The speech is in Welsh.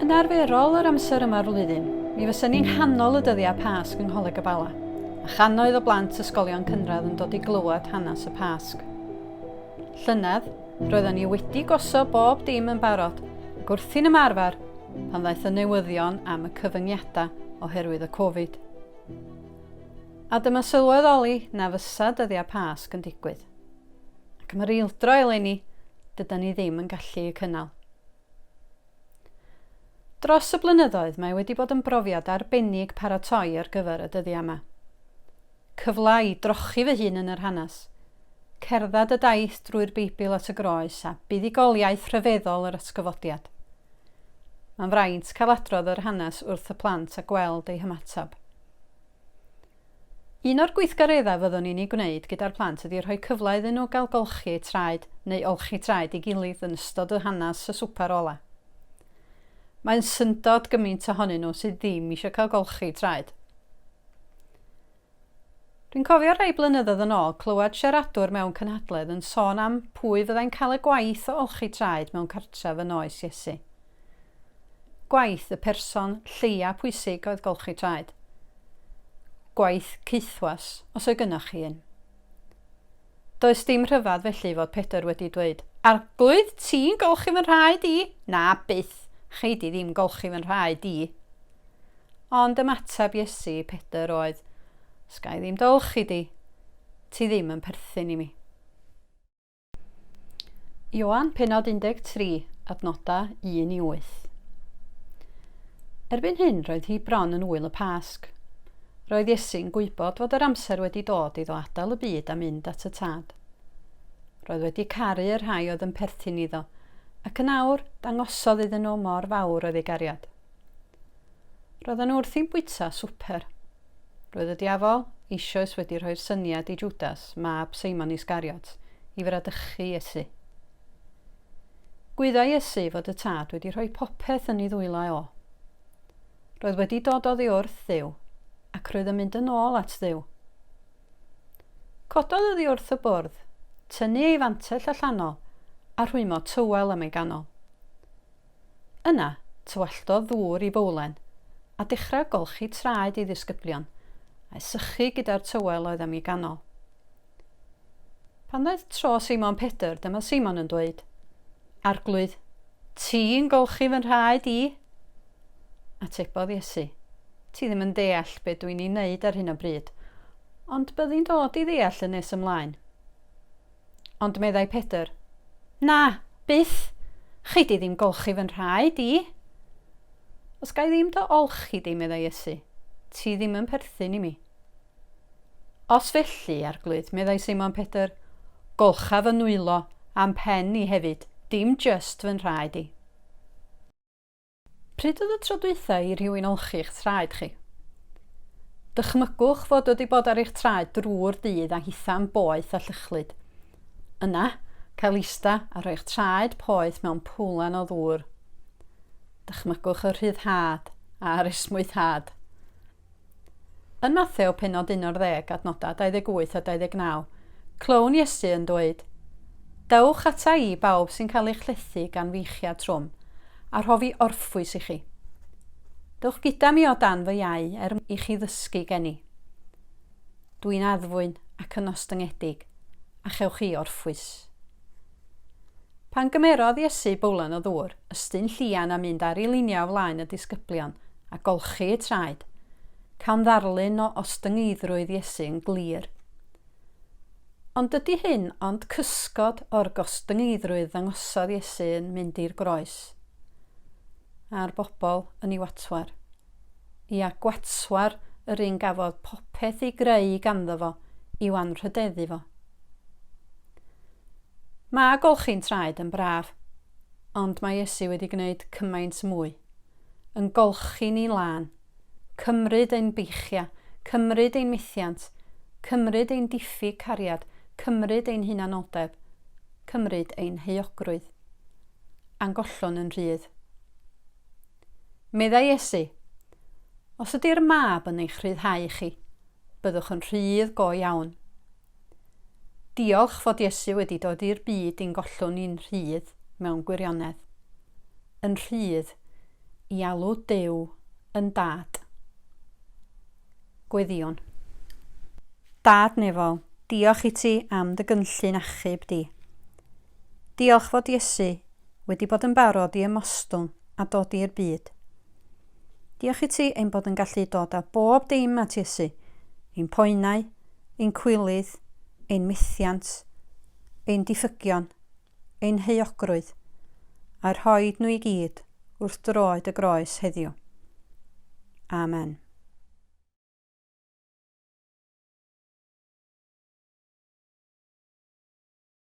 Yn arferol yr amser yma'r flwyddyn, mi fysa ni'n nghanol y dyddiau Pasg yng Ngholeg y Bala. a channoedd o blant ysgolion cynradd yn dod i glywed hanes y Pasg. Llynedd, roedden ni wedi gosod bob dim yn barod ac wrthi'n ymarfer pan ddaeth y newyddion am y cyfyngiadau oherwydd y Covid. A dyma sylwedd oli na fysa dyddiau Pasg yn digwydd. Ac mae'r eildro eleni, dyda ni ddim yn gallu y cynnal. Dros y blynyddoedd mae wedi bod yn brofiad arbennig paratoi ar gyfer y dyddiau yma. Cyfle i drochi fy hun yn yr hanes, cerdded y daith drwy'r Beibl at y Groes a buddugoliaeth rhyfeddol yr atgyfodiad. Mae'n fraint cael adrodd yr hanes wrth y plant a gweld eu hymateb. Un o'r gweithgareddau fyddwn ni'n eu gwneud gyda'r plant ydy rhoi cyfle iddyn nhw gael golchi eu traed neu olchi traed ei gilydd yn ystod y hanes y swper ola'. Mae'n syndod gymaint ohonyn nhw sydd ddim eisiau cael golchi eu traed. Dwi'n cofio rhai blynyddoedd yn ôl clywed siaradwr mewn cynhadledd yn sôn am pwy fyddai'n cael y gwaith o olchi traed mewn cartref yn oes Iesu. Gwaith y person lleia pwysig oedd golchi traed. Gwaith caethwas, os oedd gynnoch chi un. Does dim rhyfedd felly fod Pedr wedi dweud, Arglwydd, ti'n golchi fy nhraed i? Na, byth, chei di ddim golchi fy nhraed i. Ond ymateb Iesu i Pedr oedd, Os ga i ddim dolchi di, ti ddim yn perthyn i mi. Ioan, penod 13, adnodau 1 i 8. Erbyn hyn, roedd hi bron yn wyl y Pasg. Roedd Iesu'n gwybod fod yr amser wedi dod iddo adael y byd a mynd at y tad. Roedd wedi caru y rhai oedd yn perthyn iddo, ac yn awr dangosodd iddyn nhw mor fawr oedd ei gariad. Roedden nhw wrthi'n bwyta swper. Roedd y Diafol eisoes wedi rhoi'r syniad i Jwdas, mab Seimon Iscariot, i fradychu Iesu. Gwyddai Iesu fod y Tad wedi rhoi popeth yn ei ddwylo eo. Roedd wedi dod oddi wrth Dduw, ac roedd yn mynd yn ôl at Dduw. Cododd oddi wrth y bwrdd, tynnu ei fantell allanol, a rhwymo tywel am ei ganol. Yna, tywalltodd ddŵr i fowlen, a dechrau golchi traed ei ddisgyblion, a'i sychu gyda'r tywel oedd am ei ganol. Pan ddaeth tro Seimon Pedr, dyma Seimon yn dweud, Arglwydd, ti'n golchi fy nhraed i? Atebodd Iesu, Ti ddim yn deall be dwi'n ei wneud ar hyn o bryd, ond byddi'n dod i ddeall yn nes ymlaen. Ond meddai Pedr, Na, byth! Chei di ddim golchi fy nhraed i. Os ga i ddim dy olchi di, meddai Iesu, ti ddim yn perthyn i mi. Os felly, Arglwydd, meddai Seimon Pedr, golcha fy nwylo a'm pen i hefyd, dim jyst fy nhraed i. Pryd oedd y tro dwytha i rhywun olchi'ch traed chi? Dychmygwch fod wedi bod ar eich traed drwy'r dydd a hitha'n boeth a llychlyd. Yna, cael ista a rhoi'ch traed poeth mewn pwlan o ddŵr. Dychmygwch y rhyddhad a'r esmwythad. Yn Matheu pennod 11 adnodau 28 a 29, clywn Iesu yn dweud, Dewch ata i bawb sy'n cael eich llethu gan feichiau trwm, a rhof i orffwys i chi. Dewch gyda mi o dan fy iau er mwyn i chi ddysgu gen i. Dw i'n addfwyn ac yn ostyngedig, a chewch chi orffwys. Pan gymerodd Iesu bowlen o ddŵr, ystyn llian a mynd ar ei liniau o flaen y disgyblion, a golchi eu traed, cawn ddarlun o ostyngeiddrwydd Iesu yn glir. Ond dydy hyn ond cysgod o'r gostyngeiddrwydd ddangosodd Iesu yn mynd i'r groes, a'r bobl yn ei watwar. Ia, gwatwar yr un gafodd popeth ei greu ganddo fo i'w anrhydeddu fo. Mae golchi'n traed yn braf, ond mae Iesu wedi gwneud cymaint mwy. Yn golchi ni lân, cymryd ein beichia, cymryd ein methiant, cymryd ein diffyg cariad, cymryd ein hunanoldeb, cymryd ein heuogrwydd. A'n gollwn yn rhydd. Meddai Iesu, Os ydy'r Mab yn eich rhyddhau chi, byddwch yn rhydd go iawn. Diolch fod Iesu wedi dod i'r byd i'n gollwng ni'n rhydd mewn gwirionedd. Yn rhydd i alw Duw yn Dad. Gweddïwn. Dad nefol, diolch i ti am dy gynllun achub di. Diolch fod Iesu wedi bod yn barod i ymostwng a dod i'r byd. Diolch i ti ein bod yn gallu dod â bob dim at Iesu, ein poenau, ein cwilydd, ein methiant, ein diffygion, ein heuogrwydd, a rhoi nhw i gyd wrth droed y groes heddiw. Amen.